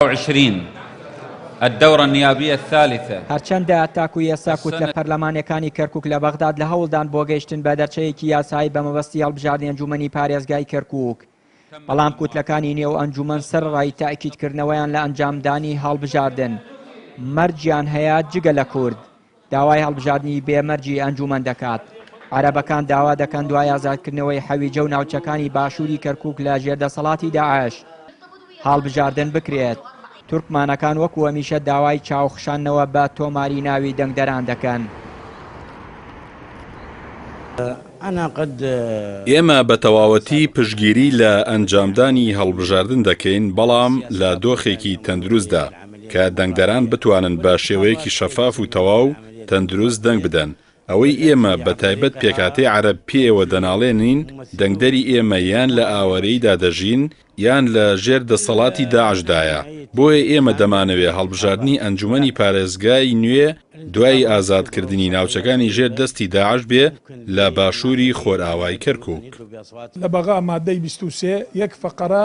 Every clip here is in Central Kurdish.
عشرین الدورە النیابیە الثالثە. هەرچەندە تاکو ئێستا کوتلە پەرلەمانیەکانی کەرکوک لە بەغداد لە هەوڵدان بۆ گەیشتن بە دەرچەیەکی یاسایی بە مەبەستی هەڵبژاردنی ئەنجومەنی پارێزگای کەرکوک بەڵام کوتلەکانی نێو ئەنجومەن سەرەڕای تەئکیدکردنەوەیان لە ئەنجامدانی هەڵبژاردن مەرجیان هەیە جگە لە کورد داوای هەڵبژاردنی بێ مەرجی ئەنجوومەن دەکات. عەرەبەکان داوا دەکەن دوای ئازادکردنەوەی حەویجە و ناوچەکانی باشووری کەرکووک لە ژێر دەسەڵاتی داعش، هەڵبژاردن بکرێت. تورکمانەکان وەکو هەمیشە داوای چاو خشاندنەوە بە تۆماری ناوی دەنگدەران دەکەن. ئێمە بە تەواوەتی پشتگیری لە ئەنجامدانی هەڵبژاردن دەکەین، بەڵام لە دۆخێکی تەندروستدا. کە دەنگدەران بتوانن بە شێوەیەکی شەفاف و تەواو تەندروست دەنگ بدەن، ئەوەی ئێمە بە تایبەت پێکهاتەی عەرەب پێیەوە دەناڵێنین، دەنگدەری ئێمە یان لە ئاوارەییدا دەژین یان لە ژێر دەسەڵاتی داعشدایە، بۆیە ئێمە دەمانەوێ هەڵبژاردنی ئەنجومەنی پارێزگای نوێ دوای ئازادکردنی ناوچەکانی ژێر دەستی داعش بێ لە باشووری خۆرئاوای کەرکووک. لە بەغا مادەی بیست و سێ یەک فەقرە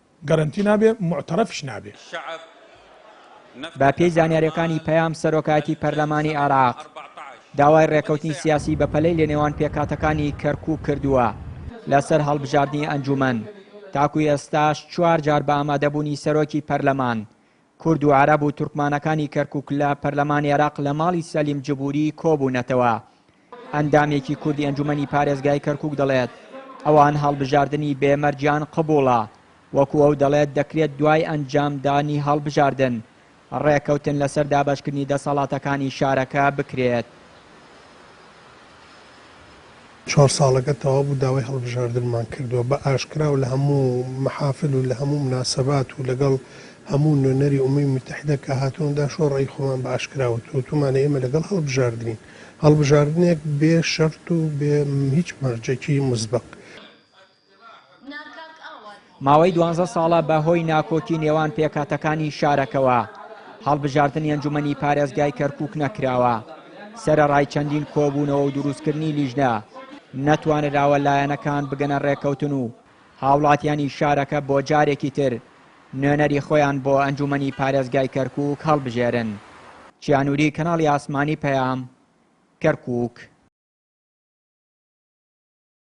گەرەنتی نابێ موعتەرەفیش نابێ. بەپێی زانیارییەکانی پەیام سەرۆکایەتی پەرلەمانی عێراق داوای ڕێکەوتنی سیاسی بەپەلەی لەنێوان پێکهاتەکانی کەرکووک کردووە لەسەر هەڵبژاردنی ئەنجوومەن، تاکو ئێستاش چوار جار بە ئامادەبوونی سەرۆکی پەرلەمان کورد و عەرەب و تورکمانەکانی کەرکوک لە پەرلەمانی عێراق لە ماڵی سەلیم جبوری کۆبوونەتەوە. ئەندامێکی کوردی ئەنجومەنی پارێزگای کەرکوک دەڵێت، ئەوان هەڵبژاردنی بێ مەرجیان قبوڵە، وەکو ئەو دەڵێت دەکرێت دوای ئەنجامدانی هەڵبژاردن ڕێککەوتن لەسەر دابەشکردنی دەسەڵاتەکانی شارەکە بکرێت. چوار ساڵەکە تەواو بوو داوای هەڵبژاردنمان کردووە بە ئاشکرا و لە هەموو مەحافل و لە هەموو مناسەبات و لەگەڵ هەموو نوێنەری ئومەی موتەحیدە کە هاتوون دا شۆ ڕەئی خۆمان بە ئاشکرا وت وتومانە ئێمە لەگەڵ هەڵبژاردنین هەڵبژاردنێک بێ شەرت و بێ هیچ مەرجێکی موسبەق. ماوەی دوانزە ساڵە بە هۆی ناکۆکی نێوان پێکهاتەکانی شارەکەوە، هەڵبژاردنی ئەنجومەنی پارێزگای کەرکووک نەکراوە. سەرەڕای چەندین کۆبوونەوە و دروستکردنی لیژنە، نەتوانراوە لایەنەکان بگەنە ڕێککەوتن و هاوڵاتیانی شارەکە بۆ جارێکی تر نوێنەری خۆیان بۆ ئەنجومەنی پارێزگای کەرکووک هەڵبژێرن. چیا نوری، کەناڵی ئاسمانی پەیام، کەرکووک.